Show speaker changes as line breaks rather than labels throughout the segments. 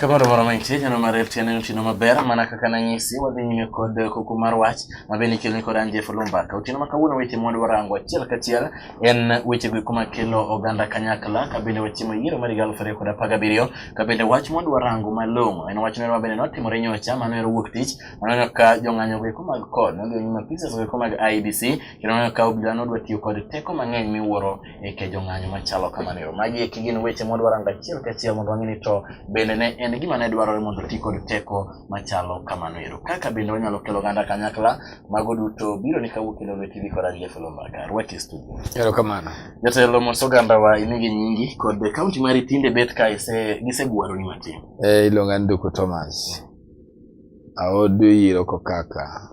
Kamano moro ma nitie kendo mar RTN en otieno maber mana kaka nanyisi wadhi nyime kod kuku mar wach ma bende ikeloni kod an Jeff Olumba. Ka otieno ma kawuono weche mwadwa rango achiel kachiel en wechego eko makelo oganda kanyakla ka bende wachiemo yiero mar higa aluf ariyo kod apar gabiriyo To bende wach mondo warango malong'o en wach moro mabende notimore nyocha mano ero wuok tich maneno ka jong'anyo goeko mag kod nodhi onyima pises goeko mag IBC kendo noneno ka obila nodwa tiyo kod teko mang'eny miwuoro e ke jong'anyo machalo kamano ero. Magi eki gin weche mondo warango achiel kachiel mondo wang'e ni to bende ne en gima ne dwarore mondo ti kod teko machalo kamano ero. Kaka bende wanyalo kelo oganda kanyakla mago duto biro ni kawuok kendo lweti dhi kora gi Jafelo Mbaka. Rwaki studio. Erokamano. Jatelo mos oganda wa inigi nyingi kod kaunti mari tinde bet ka ise gisegwaro ni matin. Eh, iluonga ni Duku Thomas. Aodu yiro kokaka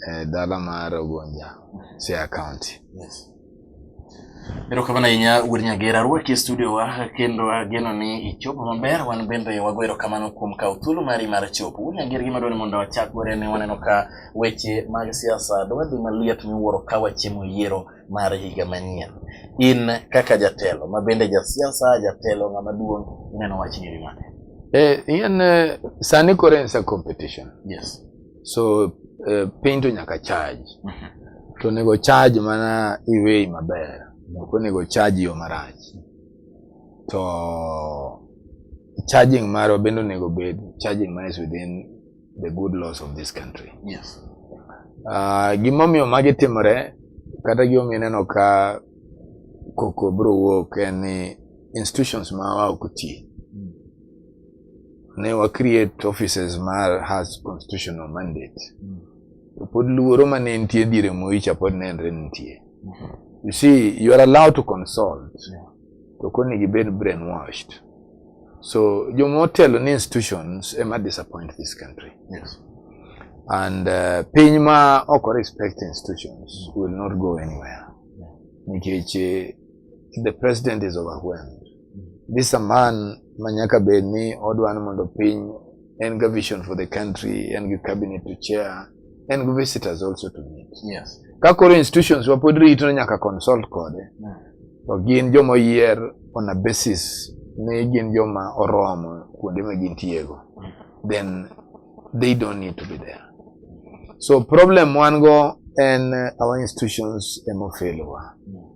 eh, dala mar Ogonja, Siaya County. Yes. Erokamano ahinya Wuod Nyagera rwaki e studio wa kendo ageno ni ichopo maber wan bende wago erokamano kuom kawo thuolo mari mar chopo. Wuod Nyagera gima dwani mondo wachak godo en ni waneno ka weche mag siasa dwadhi maliet miwuoro ka wachiemo yiero mar higa manyien. In kaka jatelo ma bende jasiasa, jatelo ng'ama duong' ineno wach nyiri mane? Eh, in uh, sani koro en sa competition. Yes. So uh, piny to nyaka charge. Mm -hmm. To onego charge mana iwei maber. Ok onego charge yo marach. To charging marwa bende onego bed charging man is within the good laws of this country. Yes. Uh, gimomiyo magi timore kata gimomiyo ineno ka koko biro wuok en ni institutions mawa ok ti. Mm. Ne wa create offices ma has constitutional mandate. Mm. To pod luoro ma ne nitie diere moicha pod nenre nitie. Mm -hmm. You see, you are allowed to consult. Yeah. to koro ni gibed brainwashed so joma otelo ni institutions ema disappoint this country yes. and uh, piny ma ok respect institutions will not go anywhere nikech eh, the president is overwhelmed this a man ma nyaka bed ni odwa ni mondo piny en ga vision for the country en gi cabinet to chair en gi visitors also to meet yes. ka koro institutions wa pod rito nyaka consult kode mm. to gin joma oyier on a basis ni gin joma oromo kuonde ma gintiego then they don't need to be there so problem wan go en our institutions ema ofelowa mm.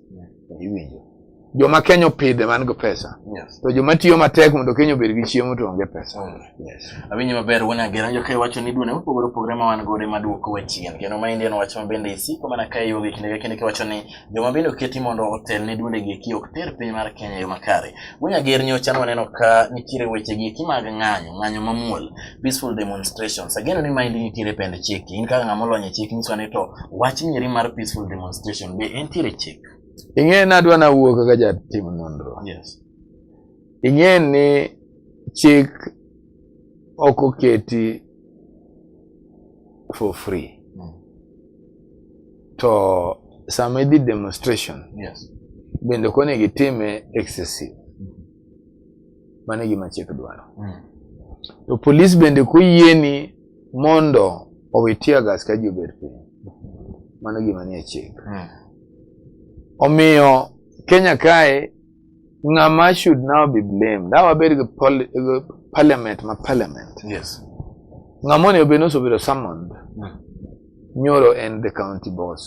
iwinjo joma Kenya opidhe man go pesa yes. to joma tiyo matek mondo Kenya obed gi chiemo to onge pesa mm. yes. awinjo maber wuon agera jo kae wacho ni duone mopogore opogore ma wan godo maduoko wa chien kendo ma indian wacho ma bende isiko mana kae yuogi kinde ka kinde kiwacho ni joma bende oketi mondo otel ne duonde gi eki ok ter piny mar Kenya yo makare wuon ager nyocha nwaneno ka nitiere weche gi eki mag ng'anyo ng'anyo mamuol peaceful demonstrations again ni mind nitiere pend chik in kaka ng'ama olony e chik nyiso ni to wach nieri mar peaceful demonstration be entiere chik ing'e ni adwa na wuo kaka jatim nonro yes ing'e ni chik ok oketi for free mm. to sama idhi demonstration yes bende ok onego itime excessive Mano e gima chik dwaro. Mm. To polis bende koyieni mondo owe tear gas ka ji obet piny, mano gima nie chik. Mm. Omiyo Kenya kae ng'ama should now be blamed dawa bed gi parliament ma parliament yes. ng'ama onego bed ni osebedo summoned mm. nyoro en the county boss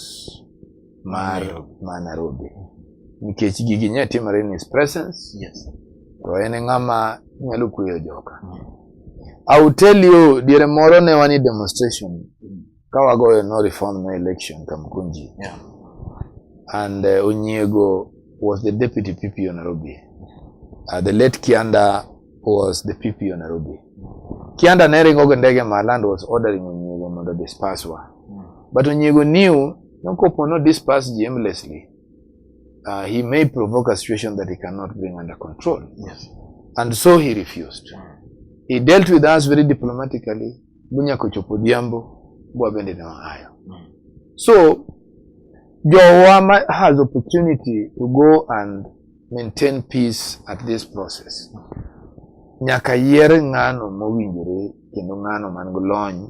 mar ma Nairobi nikech gigi nya timore in his presence yes. to en e ng'ama nyalo kueyo joka mm. I will tell you diere moro ne wani demonstration ka wagoyo no reform no election Kamkunji yeah. and uh, Onyiego was the deputy PP of Nairobi uh, the late Kianda was the PP of Nairobi Kianda ne ringo gi ndege ma land was ordering Onyiego mondo disperse wa mm. but Onyiego knew No kopo no disperse ji aimlessly. Uh, he may provoke a situation that he cannot bring under control. Yes. And so he refused. He dealt with us very diplomatically. Bunya kochopo diambo, bwa bende na hayo. So, Jowama has opportunity to go and maintain peace at this process. Nyaka yier ng'ano mowinjore kendo ng'ano man gi lony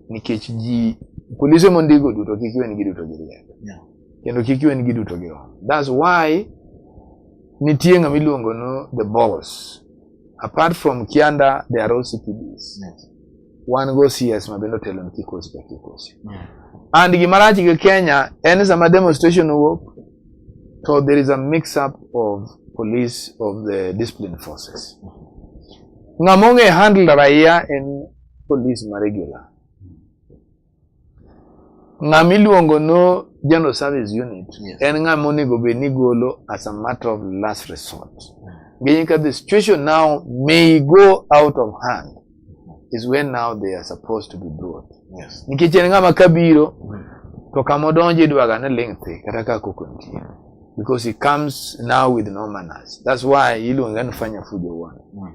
nikech ji polise mondiko duto kik iwen gi duto gi rieko yeah. kendo kik iwen gi duto gi roho that's why nitie ng'ama iluongo no the boss apart from kianda the are OCPDs yes. wan go CS ma bende otelo ni kikosi ka kikosi yeah. and gima rach gi Kenya en sama demonstration owuok so there is a mix up of police of the discipline forces mm -hmm. ng'ama ong'e handle raia en polis ma regular. Ng'ama iluongo no general service unit yes. en ng'ama onego bed ni golo as a matter of last resort. Meaning that the situation now may go out of hand is when now they are supposed to be brought. Yes. Nikech en ng'ama kabiro mm. to kama odonjo idwaga ni ling' thi kata ka koko nitie. Mm. because he comes now with no manners. That's why Ilu and Fanya Fujo won. Mm.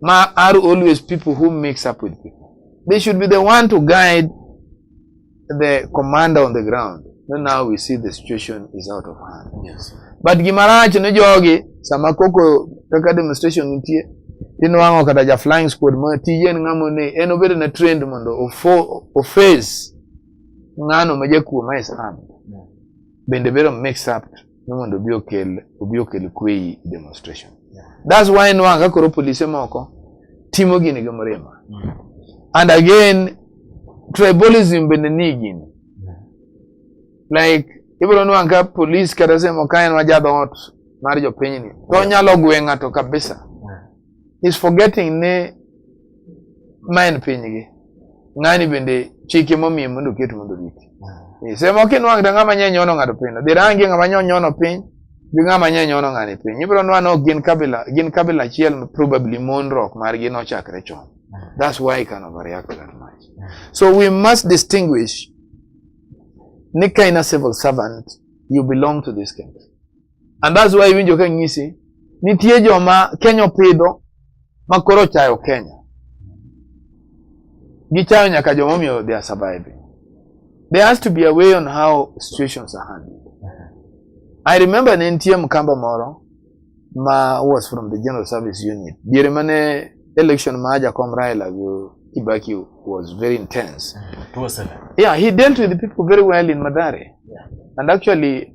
ma are always people who mix up with people. They should be the one to guide the commander on the ground. So now we see the situation is out of hand. Yes. But gimarach ne jogi sama koko kaka demonstration nitie tinwang'o kata ja flying squad ma tije en ng'amo ne en obedo na trend mondo oface ng'ano ma jakuo ma Islam bende bedo mixed up ni mondo obi okel obi okel kwe i demonstration that's why nwang' ka koro polise moko timo gini gi mrima mm. and again tribalism bende ni gini like ibiro nwang' ka polis kata semo ka en wa jadhoot mar jopinyni to onyalo gwe ng'ato kabisa is forgetting ni ma en pinygi ng'ani bende chike momiye mondo oket mondo oriti hmm. sema kinwang' to ng'ama nye nyono ng'ato piny dhi rangi ng'ama nye onyono piny gi ng'ama nye nyono ng'ani piny ibiro nwa no gin kabila gin kabila achiel probably monruok margi nochakre chon hmm. that's why I can overreact that much hmm. so we must distinguish ni ka in a civil servant you belong to this country And that's why iwinjo ka ng'isi nitie joma Kenya opidho ma koro chayo Kenya. Gichayo nyaka joma omiyo they are surviving. There has to be a way on how situations are handled. I remember ne nitie mkamba moro ma was from the General Service Unit. Diere mane election ma Jakom Raila go Kibaki was very intense. Yeah, he dealt with the people very well in Madare. Yeah. And actually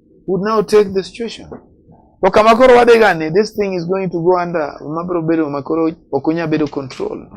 would now take the situation. To kama koro wadegani, this thing is going to go under, mabro bedo makoro ok onya bedo control.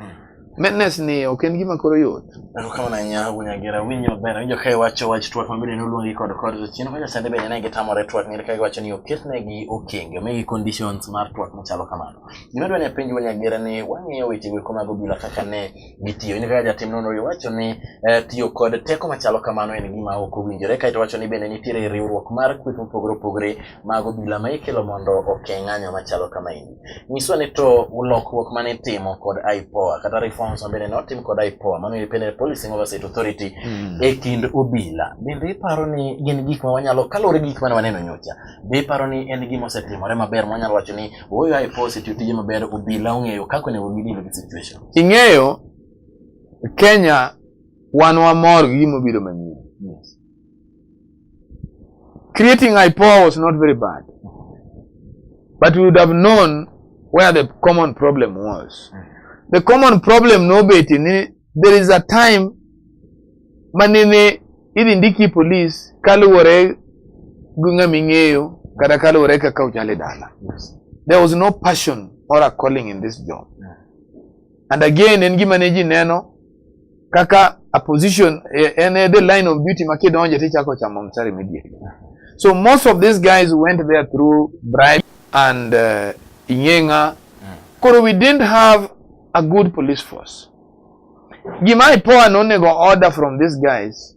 Madness ni ok en gima koro yot. Ero kama na nya wunya gera winyo bera winyo kai wacho wach twat ma bende noluongi kod kod to chien kaka sande bende ne gitamore twat ni kai wacho ni oketne gi okenge me gi conditions mar twat machalo kamano. Gima dwa ni penj wunya gera ni wang'iyo weche go kama go bila kaka ne gitiyo. In kaka jatim nonro iwacho ni eh, tiyo kod teko machalo kamano en gima ok owinjore kae to wacho ni bende nitiere riwruok mar kweth mopogore opogore mag obila ma ikelo mondo oke ng'anyo machalo kama endi. Nyiswa ni to lokruok mane itimo kod IPOA kata reforms ma bende notim kod IPOA mano Independent Policing Oversight Authority Mm. e kind obila bende iparo ni gin gik ma wanyalo kaluwore gi gik mane waneno nyocha be iparo ni en gima osetimore maber ma wanyalo wacho ni ooyo IPOA osetiyo tije maber obila ong'eyo kaka onego gidil gi situation Ing'eyo Kenya wan wamor gi gima obiro manyien. Yes. Creating IPOA was not very bad. But we would have known where the common problem was. The common problem no bet in there is a time manene idhi ndiki police kaluwore gi ng'ama ing'eyo kata kaluwore kaka uchale dala. Yes. There was no passion or a calling in this job. And again en gima ne ji neno kaka a position eh, en e the line of duty ma kidonje to ichako chamo msari immediately. So most of these guys went there through bribe and uh, Inyenga. Koro we didn't have a good police force. Gima IPOA no nego order from these guys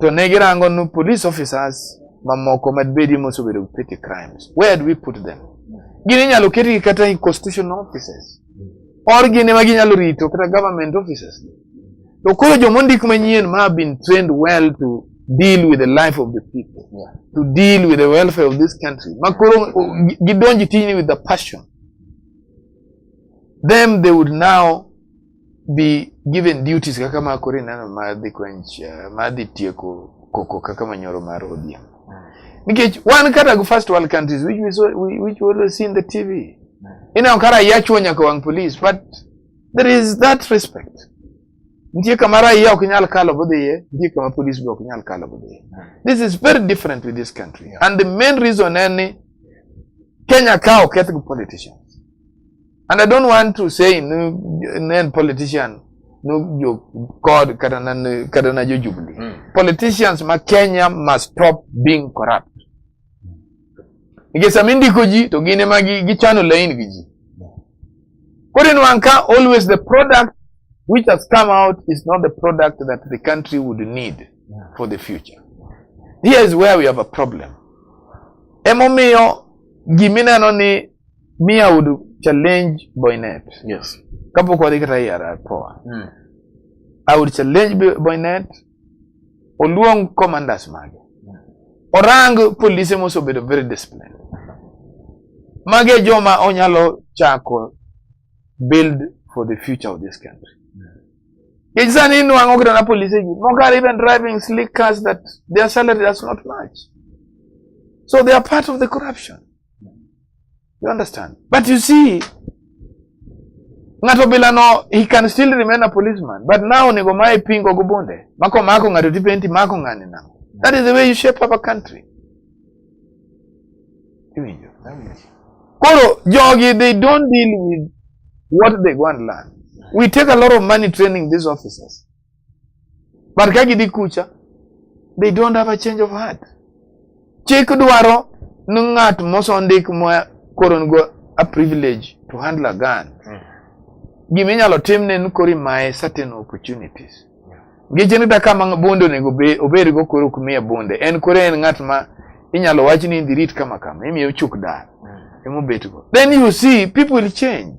to ne girango nu police officers mamoko mad bedi mosebedo gi petty crimes where do we put them gin inyalo ketgi kata e constitutional offices or gin ema ginyalo rito kata government offices to koro joma ondik manyien ma have been trained well to deal with the life of the people yeah. to deal with the welfare of this country ma koro gidonji tijni with the passion them they would now be given duties kaka ma koro ineno ma dhi quench uh, ma dhi tieko koko kaka manyoro mar ODM nikech wan kata go first world countries which we, saw, we, which we always see in the TV ineno kara yachuo nyaka wang police but there is that respect nitie kama raia ok nyal kalo budhiye nitie kama police be ok nyal kalo budhiye this is very different with this country yeah. and the main reason en ni Kenya ka oketh gi politicians And I don't want to say nen politician no jo kod kata na kata na jo jubilee. Mm. Politicians ma Kenya must stop being corrupt. Nikech sama indiko ji to gin ema gichano laini gi ji. Koro in wan ka always the product which has come out is not the product that the country would need for the future. Here is where we have a problem. Emomiyo gimineno ni me i would challenge boynet yes kapok wadhi kata e ara poa mm. i would challenge Bo- boynet oluong commanders mage orang polise mosebedo very disciplined mage joma onyalo chako build for the future of this country Nikech sani inwang'o kata na polise gi moko are even driving slick cars that their salary does not match so they are part of the corruption You understand? But you see, ng'ato bila no he can still remain a policeman but now onego mae pingo go bunde mako mako ng'ato ti penti mako ng'ani na that is the way you shape up a country iwinjo koro jogi they don't deal with what they go and learn we take a lot of money training these officers But ka gidhi kucha, they don't have a change of heart. Chik dwaro ni ng'at mosendik ma koro nigo a privilege to handle a gun. Mm. Gima inyalo timne ni koro imaye certain opportunities. Ngeche ni daka ma bunde onego obedgo koro ok miye bunde. En koro en ng'at ma inyalo wach ni indhi rit kama kama, imiye ochuk dar. Mm. Emobetgo. Then you see people will change.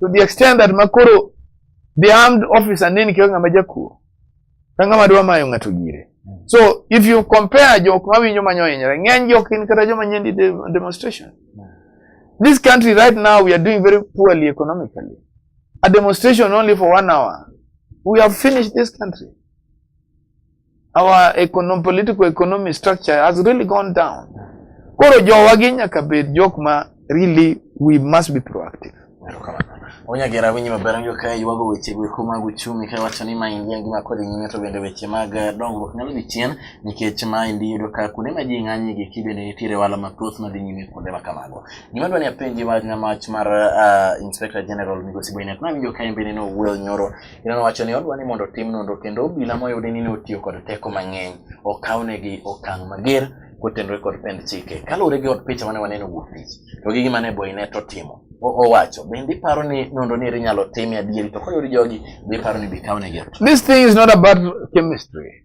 to the extent that makoro the armed officer nini kionge ng'ama jakuo ka ng'ama dwa mayo ng'ato gire so if you compare jok mawinjo manyo hinyre ng'eny jok in kata joma nyendi demonstration this country right now we are doing very poorly economically a demonstration only for one hour we have finished this country our economic, political economic structure has really gone down. Koro jowa gi nyaka bed jok ma really we must be proactive. Onyagera winyi maber njo ka yuago weche gweko mag uchumi ka wacho ni ma india ngima kod nyime to bende weche mag eh, dongruok nyalo dhi chien nikech ma indi yudo ka kuonde ma ji ng'anye gi ki bende nitiere wala mathoth ma dhi nyime kuonde ma kamago. Gima dwa ni apenji wach na mach mar uh, Inspector General Migosi Boynet, nawinjo ka en bende ne owuoyo nyoro Kendo nowacho ni odwa ni mondo otim nonro kendo obila moyudi ni ne otiyo kod teko mang'eny okawnegi okang' mager kotenore kod pend chike. Kaluwore gi od picha mane waneno wuok tich, to gi gima ne Boynet otimo, owacho bende iparo ni nonro ni inyalo tim adieri to koyud jogi be iparo ni bikawnegi. This thing is not about chemistry.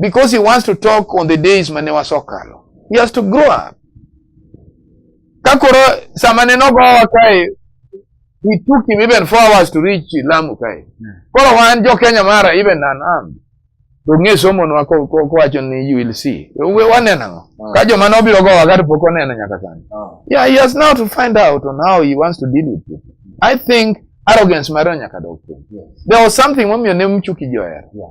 because he wants to talk on the days mane wasokalo. He has to grow up. Kakoro sama ne nogowa kae, we took him even four hours to reach Lamu kae. Koro wan jo Kenya mara even an am. To ng'e somo nwa ko ko wacho ni you will see. We waneno ang'o? Ah. Ka joma nobiro gowa ka to pok oneno nyaka sani. Ah. Yeah, he has now to find out on how he wants to deal with it. I think arrogance mare nyaka dog. There was something momiyo ne mchuki joher. Yeah.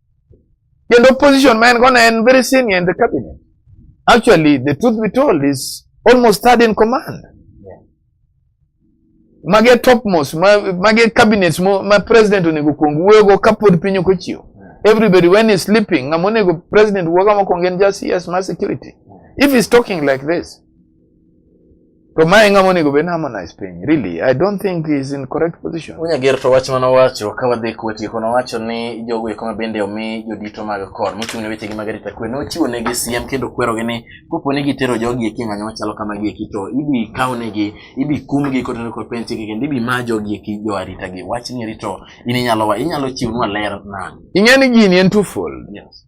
Kendo position ma en go ne en very senior in the cabinet. Actually, the truth be told is almost third in command. Mage topmost, ma- mage cabinets mo- ma president onego kuong wuoyogo kapod piny ok ochiew. Everybody when he's sleeping, ng'ama onego president wuoga mokwongo en just CS ma security. If he's talking like this, To mae ng'ama onego bed harmonize piny. Really, I don't think he's in correct position. Unya ger to wach mano wacho ka wadhi kuwe tieko na wacho ni jogo eko mabende omi jodito mag kor mochung' ne weche gi mag arita kwe nochiwo ne gi siem kendo kwero gi ni kopo ni gitero jogi eki ng'anyo machalo kama gi eki to ibi kaw ne gi ibi kum gi kotero kod pench gi kendo ibi ma jogi eki jo arita gi wach ni rito in inyalo wa inyalo chiwnwa ler nani Ing'e ni gini en twofold. Yes.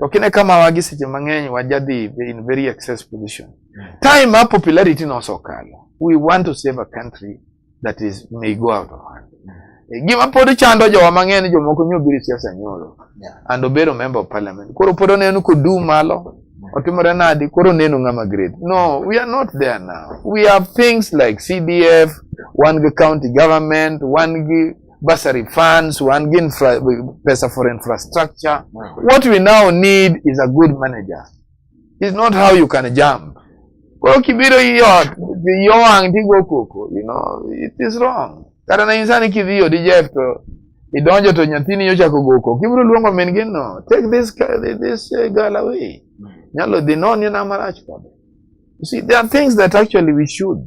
To kine kama wagi seche mang'eny wajadhi in very excess position. Mm. Time our popularity no so kalo. We want to save a country that is may go out of hand. Mm. Eh, gima pod chando jowa mang'eny jomoko nyo biri siasa nyoro. Yeah. And obero member of parliament. Koro pod oneno kodum malo. Mm. Otimore nadi koro neno ng'ama grade. No, we are not there now. We have things like CDF, one county government, one bursary funds, one give infra, pesa for infrastructure. What we now need is a good manager. It's not how you can jump. Kwa kibiro hiyo hiyo angigo koko, you know, it is wrong. Kata na insani kidhiyo di Jeff to idonjo to nyathini nyocha kogoko. Kibiro luongo min gino, take this this uh, girl away. Nyalo dhi non yena marach kode. You see, there are things that actually we should.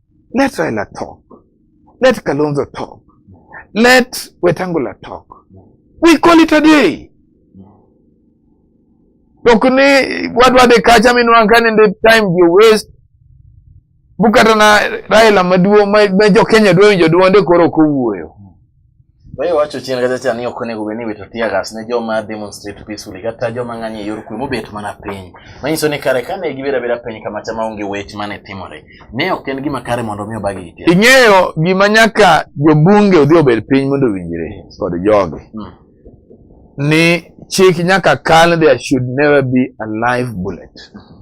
Let Raila talk. Let Kalonzo talk. Let Wetangula talk. We call it a day. Tok ni wadwa de kacha minwa kani the time you waste. Bukata na Raila maduo ma jo Kenya dwe winjo duonde koro kowuoyo. Wewe wacho chien kacha cha ni ok onego obed ni iwito tear gas ne joma demonstrate peacefully kata joma ng'anyo e yor kwe mobet mana piny. Manyiso ni kare kane gibedo abeda piny kama cha maonge wech mane timore. Ne ok en gima kare mondo mi obagi gi Ing'eyo gima nyaka jobunge odhi obed piny mondo owinjre kod jogi. Hmm. Ni chik nyaka kal there should never be a live bullet. Hmm.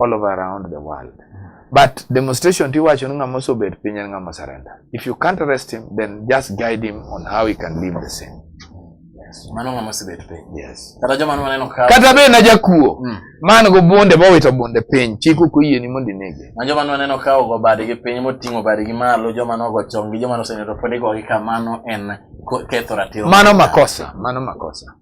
all over around the world but demonstration ti wacho ni ng'ama osobet piny en ng'ama surrender if you can't arrest him then just guide him on how he can live the same mano ng'ama osebet piny yes kata joma noneno ka kata be na jakuo mm. man go bunde bowito bunde piny chik ok oyieni mondo inege ma joma noneno ka ogo badgi piny moting'o badgi malo joma nogo chongi joma noseneno pod igogi kamano en ketho ratiro mano makosa mano makosa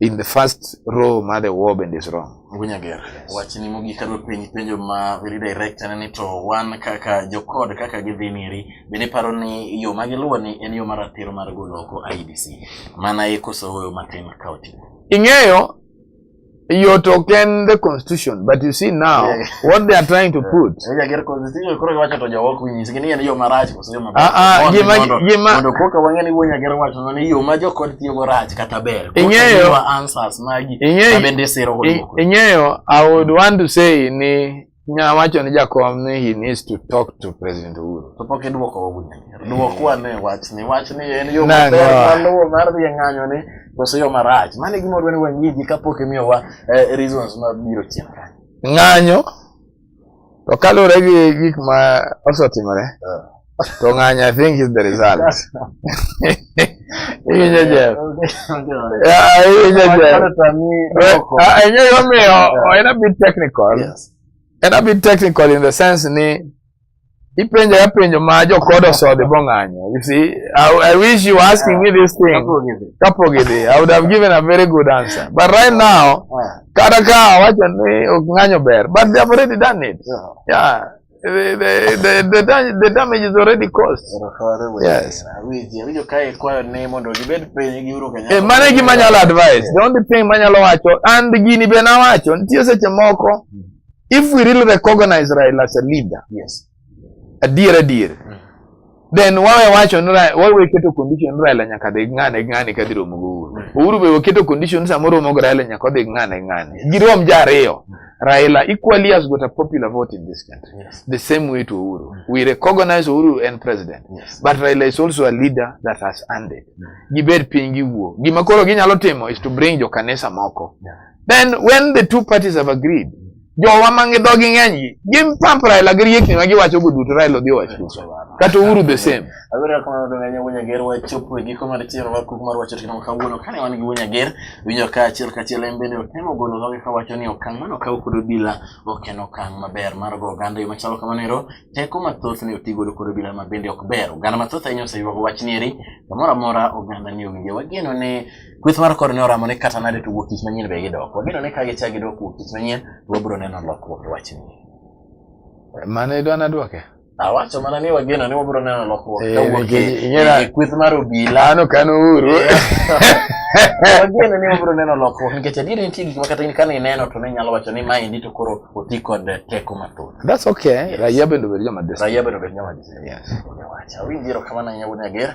in the first row ma the war bende is wrong. Gunyager, wachni mogik kadwa penj penjo ma very direct ane ni to wan kaka jokod kaka gidhi niri bende paro ni yo ma giluwo ni en yo maratiro mar golo oko IEBC mana e koso hoyo matin ka oti. Ing'eyo yo to ken the constitution but you see now yeah. what they are trying to put. Gunyager constitution koro giwacho to jowok winyisgi ni en yo marach. ah, ah, ing'eyo i would want to say ni nya wacho ni jakom ni he needs to talk to president uhuru to pok idwoko ogunya dwoko ane wachni wachni en yo maber maluwo mar dhi e ng'anyo ni koso yo marach mane gima odwa ni wang'iji kapok imiyowa eh, reasons mabiro chien kanyo ng'anyo To kaluwore gi gik ma osetimore, ah. to ng'any I think is the result. Iwinjo Jeff? Iwinjo Jeff? Ing'eyo gimomiyo en a bit technical. Yes. En a bit technical in the sense ni Ipenjo ya penjo ma jokodo sode bong'anyo. You see, I, I wish you were asking me this thing. Kapogidi. I would have given a very good answer. But right now, kata ka wacho ni ok ng'anyo ber, but they have already done it. Yeah. The, the, the, the, da- the damage is already caused. Yes. Eh, mano e gima nyalo advice. The only thing manyalo wacho, and gini be nawacho, nitie seche moko if we really recognize Raila as a leader yes adier adier mm. then wawe wacho ni wawe keto condition Raila nyaka dhi ng'ane ng'ane ka dhi romo gi Uhuru mm. Uhuru be oketo condition samoro romo gi Raila nyaka dhi ng'ane ng'ane mm. girom ja ariyo mm. Raila equally has got a popular vote in this country yes. the same way to Uhuru mm. we recognize Uhuru and president yes. but Raila is also a leader that has earned it mm. gibed piny giwuo gima koro ginyalo timo is to bring jo kanisa moko yeah. then when the two parties have agreed jowa mangi dhogi ng'eny gi gin pump Raila gi riekni ma giwacho go duto Raila odhi owacho duto kata Uhuru the same abiro kama ndo ng'anya wunya ger wa chopo e giko mar chiero mar kuku mar wacho tikama kawuono kane wan gi wunya ger winyo ka achiel ka achiel en bende otemo golo dhoge ka wacho ni okang' mano kaw kod obila ok en okang' maber mar go oganda yo machalo kamano ero teko mathoth ni oti godo kod obila ma bende ok ber oganda mathoth ahinya oseywago wach ni eri kamoro amora oganda ni owinje wageno ne Kweth mar kor ne oramo ni kata nade to wuok tich manyien be gidok. Wageno ni ka gichak gidok wuok tich manyien to wabiro neno lokruok e wachni. Mane idwa nadwoke? Awacho mana ni wageno ni wabiro neno lokruok ka Eh, wuok nikech e- ing'era- e kweth mar obila. Ano kano uru. Wageno ni wabiro neno lokruok nikech adieri nitie gik ma kata in kane ineno to ne inyalo wacho ni maendi to koro oti kod teko mathoth. That's okay. Raia bende obed joma dis. Raia bende obed joma dis- Yes. Owacho. Awinjo erokamano ahinya wuod Nyager.